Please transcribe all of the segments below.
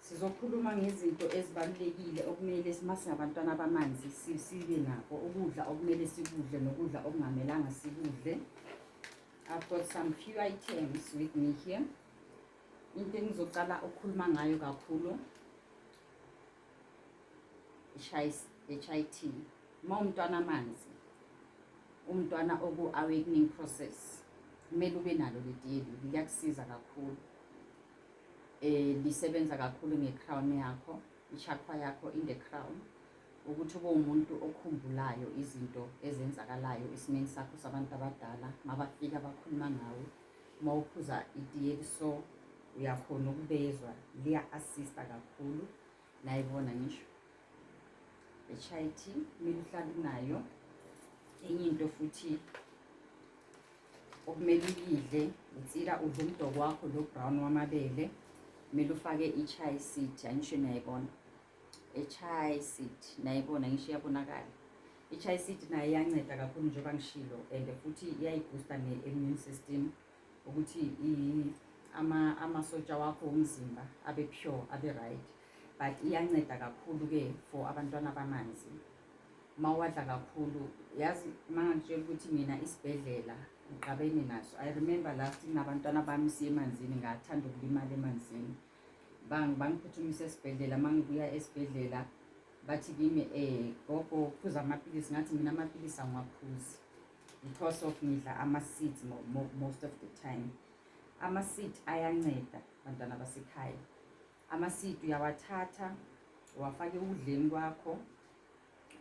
Sizokhuluma ngezinto ezibalulekile okumele uma singabantwana bamanzi sibe nako ukudla okumele sikudle nokudla okungamelanga sikudle. I've got some few items with me here. Into engizocala ukukhuluma ngayo kakhulu HIT. Uma umntwana amanzi, umntwana oku-awakening process, kumele ube nalo leli yeli, liyakusiza kakhulu. um lisebenza kakhulu nge-crown yakho i-chakra yakho in the crown ukuthi ube umuntu okhumbulayo izinto ezenzakalayo esimeni sakho sabantu abadala mabafika bakhuluma ngawe uma uphuza itiye liso uyakhona ukubezwa liya-assista kakhulu nayibona ngisho i-chit mina uhlabi nayo enye into futhi okumele uyidle insila udle umdoko wakho lo brown wamabele kumele ufake i-chai seed angisho niyayibona i-chai seed nayibona ngisho iyabonakala i-chai seed nayo iyanceda kakhulu njengoba ngishilo and futhi iyayiboosta ne-immune system ukuthi amasotsha wakho womzimba abe pure abe right but iyanceda kakhulu-ke for abantwana bamanzi uma uwadla kakhulu yazi uma ngangitshela ukuthi mina isibhedlela ngiqabene naso i remember last nabantwana bami siye emanzini ngathanda ukulimala emanzini bangiphuthumise esibhedlela uma ngibuya esibhedlela bathi kimi um gogo phuza amaphilisi ngathi mina amaphilisi angiwaphuzi because of ngidla ama-seeds most of the time ama-seed ayanceda bantwana basekhaya Amasidi uyawathatha uwafake ukudleni kwakho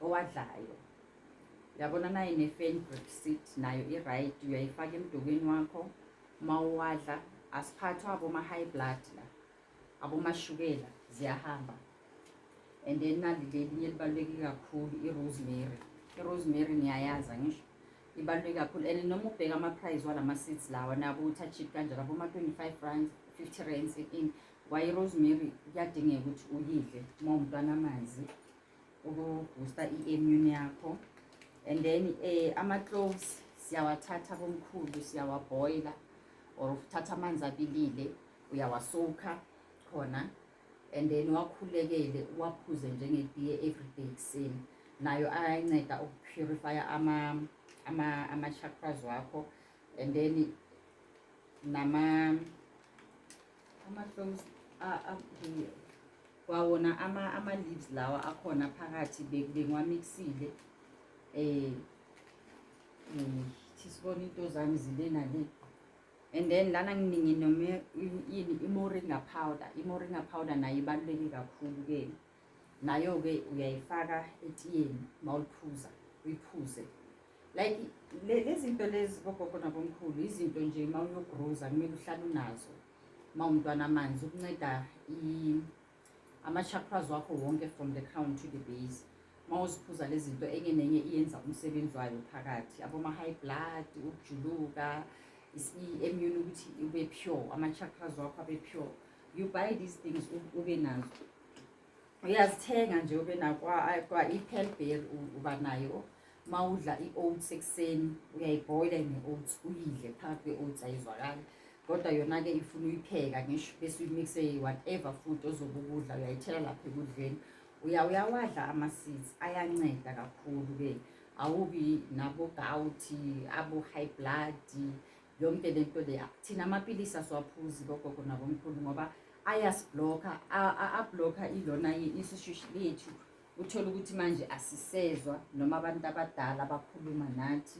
owadlayo yabona naye ne-fenbrick seed nayo i-right uyayifaka emdokweni wakho uma uwadla asiphathwa aboma-high blood la abomashukela ziyahamba and then nali lelinye elibaluleke kakhulu i-rosemary i-rosemary niyayazi angisho ibaluleke kakhulu and noma ubheka ama-price walama-seeds lawa nabo ukuthi achip kanjani abo ma-25 rands 50 rands in waye rosemary kuyadingeka ukuthi uyidle uma umntwana amanzi ukuboosta i-immune yakho and then um ama-cloves siyawathatha komkhulu siyawabhoyila or uthatha amanzi abilile uyawasowukha khona and then wakhulekele waphuze njengetiye everyday ekuseni nayo ayanceda ukupurifya ama-chakras ama, ama wakho and then nama ama-cloms kwawona ama-leaves lawa akhona phakathi bengiwamixile um eh, eh, thisibona into zami zibe nale and then lana nginingi noma yini imoringa powder imoringa powder nayo ibaluleke kakhulu ke nayo-ke uyayifaka etiyeni uma uliphuza uyiphuze like lezi nto lezi bogogo nabomkhulu izinto nje uma uyogroza kumele uhlale unazo uma umntwana amanzi ukunceda ama-chakras wakho wonke from the crown to the base uma uziphuza le zinto enye nenye iyenza umsebenzi wayo phakathi aboma-high blood ukujuluka i-immune ukuthi ube pure ama-chakras wakho abe pure you buy these things ube nazo uyazithenga nje ube nakwa-ipelber uba nayo uma udla i-oats ekuseni uyayibhoyila ne-oats uyidle phakathi kwe-oats ayizwakali kodwa yona-ke ifuna uyipheka ngisho bese uyimixe whatever food ozobe ukudla uyayithela lapha ekudleni uya uyawadla ama-seeds ayanceda kakhulu-ke awubi nabogawuthi abo-high blood yonke le nto leya thina amapilisi asiwaphuzi kogogo nabomkhulu ngoba ayasiblokha ablokha ilona isishushi lethu uthole ukuthi manje asisezwa noma abantu abadala bakhuluma nathi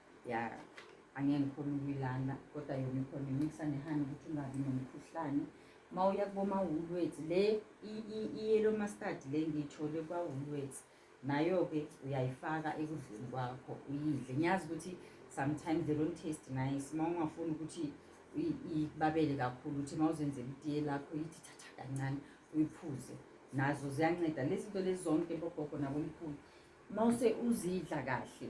ya angeke ngikhona ukuyilanda kodwa yona ikhona imikisa nehani ukuthi ungabi nomkhuhlane uma uya kubomawulwets le i-yellow mustard le ngiyithole kwawulwets nayo-ke uyayifaka ekudleni kwakho uyidle ngiyazi ukuthi sometimes they don't taste nice uma ungafuni ukuthi ikubabele kakhulu ukuthi uma uzenzela itiye lakho yithi thatha kancane uyiphuze nazo ziyanceda lezi zinto lezi zonke bogogo nabomkhulu uma use uzidla kahle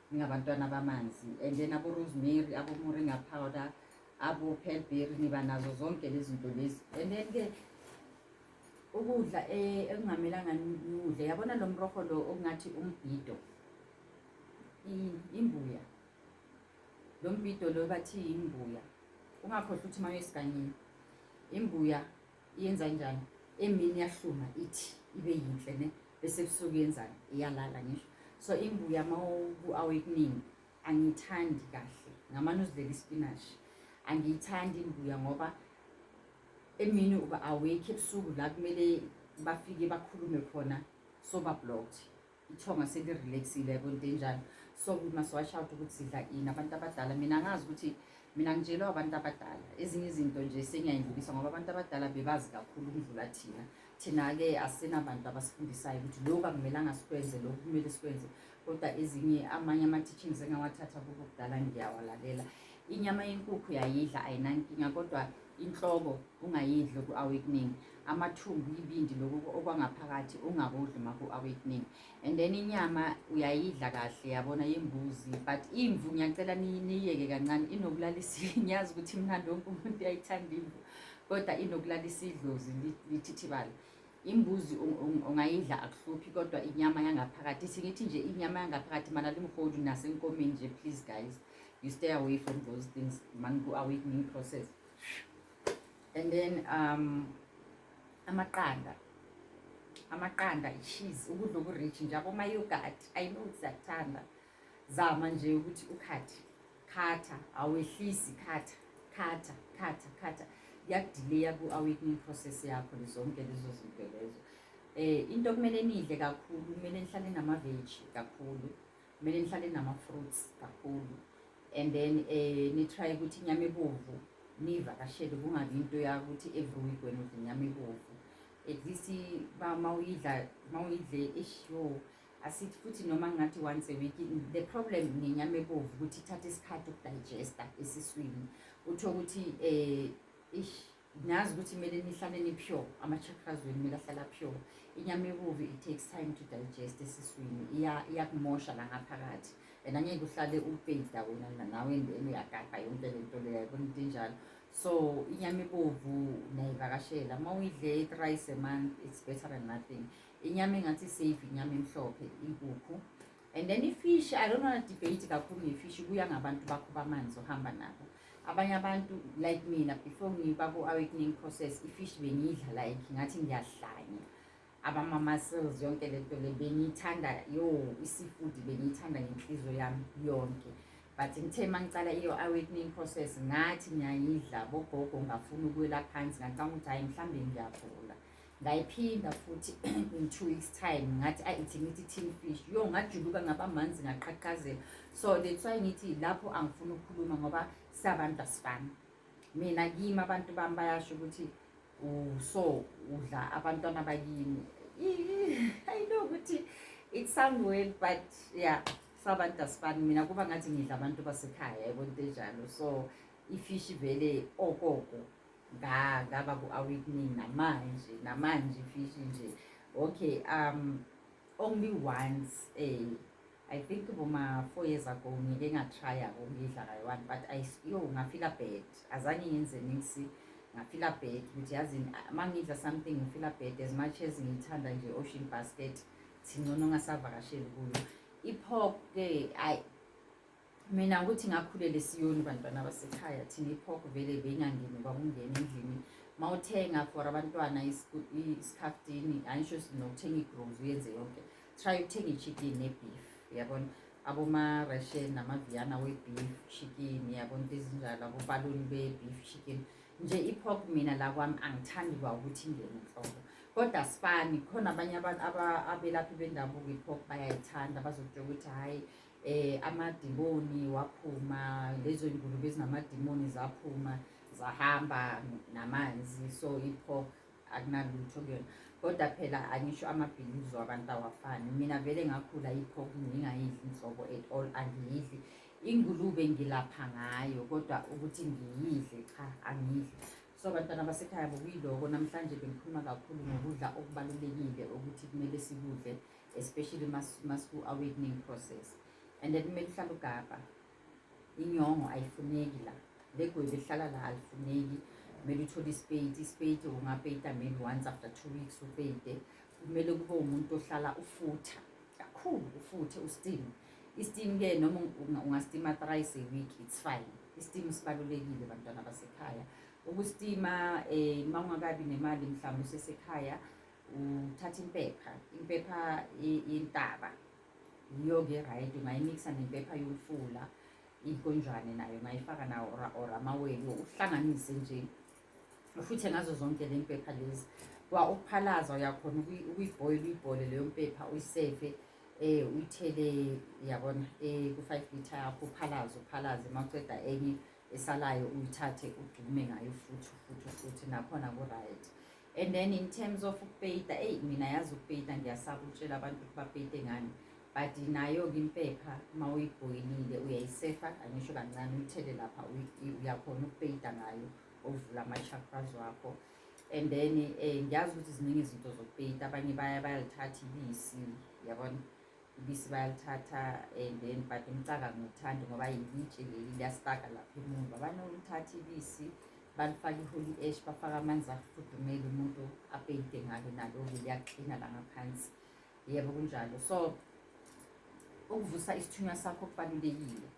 ningabantwana bamanzi and then abo-rosemary abo-moringa powder abo-pelberry niba nazo zonke lezi zinto lezi and then ke ukudla e, ekungamelanga niwudle yabona lo mroho lo okungathi umbhido imbuya lo mbhido lo bathi imbuya ungakhohlwa ukuthi uma uyesiganyini imbuya yenza njani emini yahluma ithi ibe yinhle ne bese ebusuku yenzani iyalala ngisho so imbuya uma ku-awakening angiyithandi kahle ngamane uzidlela ispinashi angiyithandi imbuya ngoba emini uba awekho ebusuku la kumele bafike bakhulume khona soba blocked ithonga selirelaxile yabo into enjalo so we must watch out ukuthi sidla ini abantu abadala mina ngazi ukuthi mina ngitshelwe abantu abadala ezinye izinto nje sengiyayindlulisa ngoba abantu abadala bebazi kakhulu ukudlula thina thina-ke asinabantu abasifundisayo ukuthi lokhu akumelanga sikwenze lokhu kumele sikwenze kodwa ezinye amanye ama-teachings engawathatha kubo kudala ngiyawalalela inyama yenkukhu yayidla ayinankinga kodwa inhloko ungayidli ku-awakening amathumbu ibindi lokhu okwangaphakathi ungakudli uma ku-awakening and then inyama uyayidla kahle yabona yembuzi but imvu ngiyacela niyiyeke kancane inokulalisuye ngiyazi ukuthi mnandi wonke umuntu uyayithanda imvu kodwa inokulalisa idlozi lithithibale imbuzi ungayidla akuhluphi kodwa inyama yangaphakathi ithi ngithi nje inyama yangaphakathi mana limholi nasenkomeni nje please guys you stay away from those things man ku-awakening process and then um amaqanda amaqanda i-cheese ukudla oku-rich nje abomayogurt i know ukuthi ziyakuthanda zama nje ukuthi ukhathi khatha awehlisi khatha khatha khatha khatha kuyakudileya ku-awakening process yakho zonke lezo zinto lezo um into okumele nidle kakhulu kumele nihlale namaveji kakhulu kumele nihlale nama-fruits kakhulu and then um eh, nitry ukuthi inyama ebovu niyivakashele kungabi into yakuthi every week wena udla inyama ebovu at least uma uyidla uma uyidle esho asithi futhi noma ngathi once a week the problem ngenyama ebovu ukuthi ithatha isikhathi ukudigesta esiswini utho ukuthi um ish Nazi ukuthi kumele nihlale ni-pure, ama-chakras wenu kumele ahlala pure. Inyama ebubi it takes time to digest esiswini, iyakumosha la ngaphakathi and angeke uhlale upeyida wena nawe endeni uyagabha yonke le nto leyo yabona into enjalo so inyama ibovu nayivakashela uma uyidle i-thrice a month it's better than nothing inyama engathi safe inyama emhlophe inkukhu and then ifish i don't wanna debate kakhulu ngefish kuya ngabantu bakho bamanzi ohamba nabo abanye abantu like mina before ngiba ku-awakening process ifish bengiyidla like ngathi ngiyahlanya abama-muscles yonke le nto le bengiyithanda yo i-seafood bengiyithanda ngenhliziyo yami yonke but ngithe uma ngicala iyo-awakening process ngathi ngiyayidla bogogo ngafuna ukwela phansi ngacanga ukuthi hhayi mhlawumbe ngiyagula ngayiphinda futhi in two weeks time ngathi ayi ithi ngithi tin fish yo ngajuluka ngaba manzi ngaqhaqhazela so that's why ngithi lapho angifuni ukukhuluma ngoba sabantu asifani mina kimi abantu bami bayasho ukuthi so udla abantwana bakimi i know ukuthi it sound weird but yeah sabantu asifani mina kuba ngathi ngidla abantu basekhaya yabo into enjalo so ifishi vele okoko nga ngaba ku-awakening namanje namanje fishi nje okay um only once eh i think boma-four years ago ngike ngatrya ngokuyidla kayi-one but yo ngafila bad azange ngenze niksi ngafila bad ukuthi yazi uma ngidla something ngifila bad as much as ngiyithanda nje ocean basket thingcono ngasavakasheli kuyo iphok-ke ayi mina ukuthi ngakhulele siyoni bantwana basekhaya thina iphok vele beyingangeni kwakungena endlini ma uthenga for abantwana isikhaftini angisho nokuthenga igrozi uyenze yonke try ukuthenga ichicken nebeef yabona abomarashen namaviyana webeef chicken yabona into ezinjalo abobaluni bebeef chicken nje iphok mina la kwami angithandi kwa ukuthi ingene nhlobo kodwa sifani khona abanye abantu abelaphi bendabuko iphok bayayithanda bazokutsho ukuthi hhayi eh amadimoni waphuma lezo ngulube ezinamadimoni zaphuma zahamba namanzi so ipho akunalutho kuyona kodwa phela angisho amabhilizo abantu awafani mina vele ngakhula iphoku ngingayidli inhlobo at all angiyidli ingulube ngilapha ngayo kodwa ukuthi ngiyidle cha angiyidli so abantwana basekhaya bokuyiloko namhlanje bengikhuluma kakhulu ngokudla okubalulekile ukuthi kumele sikudle especially masiku awakening process and then kumele uhlale ugabha inyongo ayifuneki la legwebu ehlala la alifuneki kumele uthole ispeyiti ispeyiti ungapeyita maybe once after two weeks upeyite kumele kube umuntu ohlala ufutha kakhulu ufuthe usteam isteam-ke noma ungastima thrice a week it's fine isteam sibalulekile bantwana basekhaya ukustima um eh, uma ungakabi nemali mhlawumbe usesekhaya Uthatha impepha, impepha yentaba yiyo-ke right ungayimikisa nempepha yomfula inkonjwane nayo ungayifaka nawo or amawele uhlanganise nje ufuthe ngazo zonke le mpepha lezi kwa ukuphalaza uyakhona ukuyibhoyile uyibhole leyo mpepha uyisefe eh uyithele yabona eh ku 5 liter yakho uphalaze uphalaze mawuceda enye esalayo uyithathe ugcume ngayo futhi futhi futhi nakhona ku right and then in terms of ukupeyita eyi mina yazi ukupeyita ngiyasaba ukutshela abantu ukuthi bapeyite ngani but nayo-ke impepha uma uyibhoyilile uyayisefa angisho kancane uyithele lapha uyakhona ukupeyita ngayo ovula ama-chakras wakho and then um ngiyazi ukuthi ziningi izinto zokupeyita abanye bayalithatha ibisi yabona Ubisi bayalithatha and then but umcaka ngiwuthandi ngoba yilitshe leli liyasipaka lapha emuva banolithatha ibisi balifaka i-holy ash bafake amanzi afudumele umuntu apeyide ngalo nalo-ke liyaklina la ngaphansi yebo kunjalo so ukuvusa isithunywa sakho kubalulekile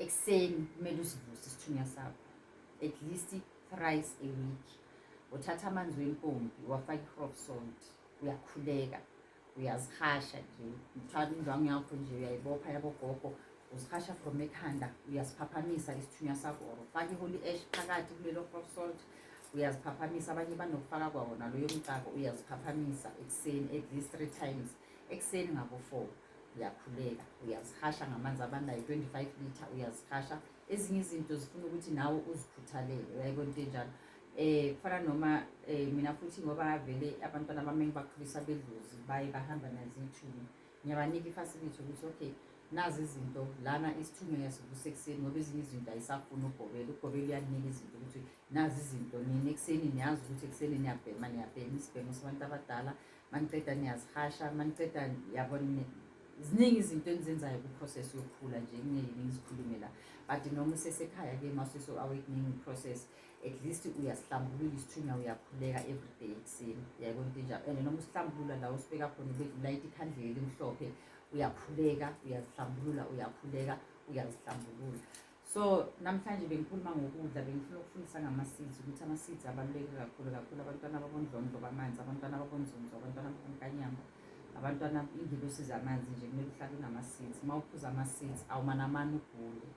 ekuseni kumele usivuse isithunywa sakho at least thrice a week uthatha amanzi wempompi wafaka i-hrof salt uyakhuleka uyazihasha nje uthwala indwangu yakho nje uyayibopha yabogogo uzihasha from ekhanda uyasiphaphamisa isithunywa sakho or ufake i-holy ash phakathi kulelo rock salt uyaziphaphamisa abanye banokufaka kwawona loyo mcako uyaziphaphamisa ekuseni at least three times ekuseni ngabo-four uyakhuleka uyazihasha ngamanzi abandayo twenty-five litre uyazihasha ezinye izinto zifuna ukuthi nawe uzikhuthalele uyayibona into enjalo eh kufana noma eh mina futhi ngoba vele abantwana bami ngibakhulisa bedlozi baye bahamba nazithumi ngiyabanika ifacility ukuthi okay nazi izinto lana isithunywa yasivusa ekuseni ngoba ezinye izinto ayisafuni ugobela ugobela uyakunika izinto ukuthi nazi izinto nini ekuseni niyazi ukuthi ekuseni niyabhema niyabhema isibhemo sabantu abadala maniceda niyazihasha maniceda yabona ziningi izinto enzenzayo kwiprocess yokukhula nje kungeyini ngizikhulume la but noma usesekhaya-ke masuso-awakening process at least uyasihlambulula isithunywa uyakhuleka everyday ekuseni yayibona into enjalo and noma usihlambulula la usibeka khona ulayita ikhandlela elimhlophe uyakhuleka uyazihlambulula uyakhuleka uyazihlambulula so namhlanje bengikhuluma ngokudla bengifuna ukufundisa ngama-seeds ukuthi ama-seeds abaluleke kakhulu kakhulu abantwana babondlondlo bamanzi abantwana babonzonzo abantwana babonkanyamba abantwana ingibe osiza amanzi nje kumele uhlale unama-seeds uma uphuza ama-seeds awumanamane ugule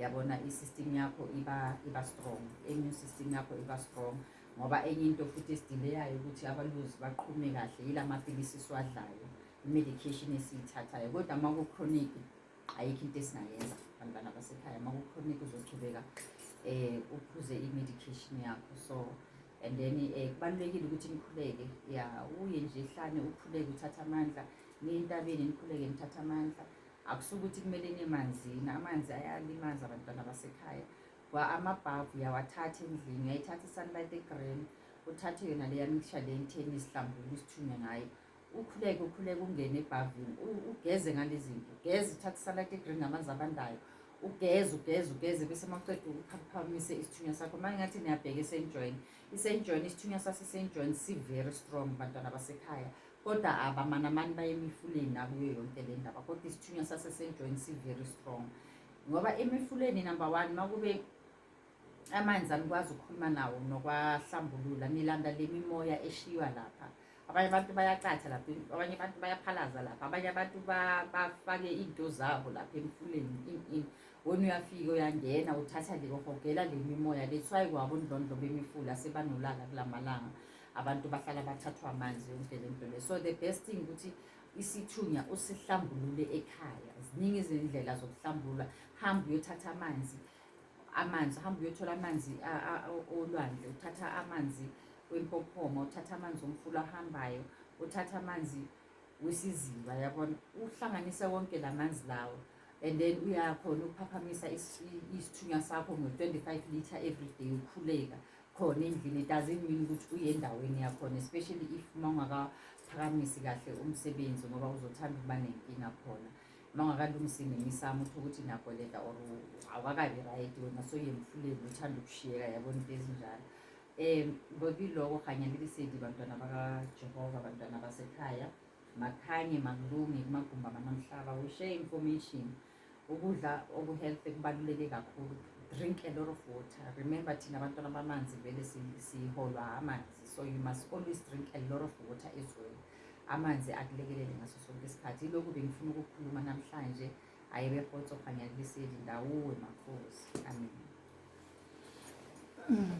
yabona i-system yakho iba iba strong immune system yakho iba strong ngoba enye into futhi esidileyayo ukuthi abaluzi baqhume kahle yila maphilisi esiwadlayo i-medication esiyithathayo kodwa uma ku-chronic ayikho into esingayenza bantwana basekhaya uma ku-chronic uzochubeka um uphuze i-medication yakho so and then um kubalulekile ukuthi nikhuleke ya uye nje hlane ukhuleke uthathe amandla niye entabeni nikhuleke nithathe amandla Akusuke ukuthi kumele nemanzini, amanzi ayalimaza abantwana basekhaya. Kwa amabhavu uyawathatha endlini, uyayithatha i-sunlight e-green, uthathe yona leya mixture le entheni isihlambulu isithunywe ngayo. Ukhuleke ukhuleke ungene ebhavini, ugeze ngale zinto, ugeze uthathe i-sunlight e-green ngamanzi abandayo. Ugeze ugeze ugeze bese maqeda uphaphamise isithunywa sakho. Manje ngathi niyabheka esenjoyini. Isenjoyini isithunywa sasesenjoyini si-very strong bantwana basekhaya. Kodwa abamanamani baye emifuleni nakuyo yonke le ndaba kodwa isithunywa sasesenjweni si-very strong ngoba emifuleni number one uma kube amanzi anikwazi ukukhuluma nawo nokwahlambulula nilanda le mimoya eshiywa lapha abanye abantu bayacatha lapha abanye abantu bayaphalaza lapha abanye abantu bafake iy'nto zabo lapha emfuleni in in wona uyafika uyangena uthatha le uhogela le mimoya le kuthiwa yikwabo ndlondlo bemifula sebanolaka kula malanga abantu bahlala bathathwa amanzi yonke le nto le so the best thing ukuthi isithunya usihlambulule ekhaya ziningi izindlela zokuhlambulula hamba uyothatha amanzi amanzi hamba uyothola amanzi olwandle uthatha amanzi wempophoma uthatha amanzi omfula ahambayo uthatha amanzi wesiziba yabona uhlanganise wonke la manzi lawo and then uyakhona ukuphaphamisa isithunywa sakho ngo-25 litre every day ukhuleka khona endlini it doesn't mean ukuthi uye endaweni yakhona especially if uma ungakaphakamisi kahle umsebenzi ngoba uzothanda ukuba nenkinga khona uma ungakalungisi nemisamo uthi ukuthi nakoleta or awakabi right wena soyemfuleni uthanda ukushiyeka yabona into ezinjalo um ngokiloko kanye likisedi bantwana bakajehova bantwana basekhaya makhanye makulunge kumagumbi amanamhlaba we share information Ukudla okuhealthy kubaluleke kakhulu. Drink a lot of water. Remember thina abantwana bamanzi vele siholwa amanzi. So you must always drink a lot of water as well. Amanzi akulekelele ngaso sonke isikhathi. Ilokhu bengifuna ukukhuluma namhlanje. Ayebe khotso khanya kuliseli ndawuwe makhosi. Amen. Mm.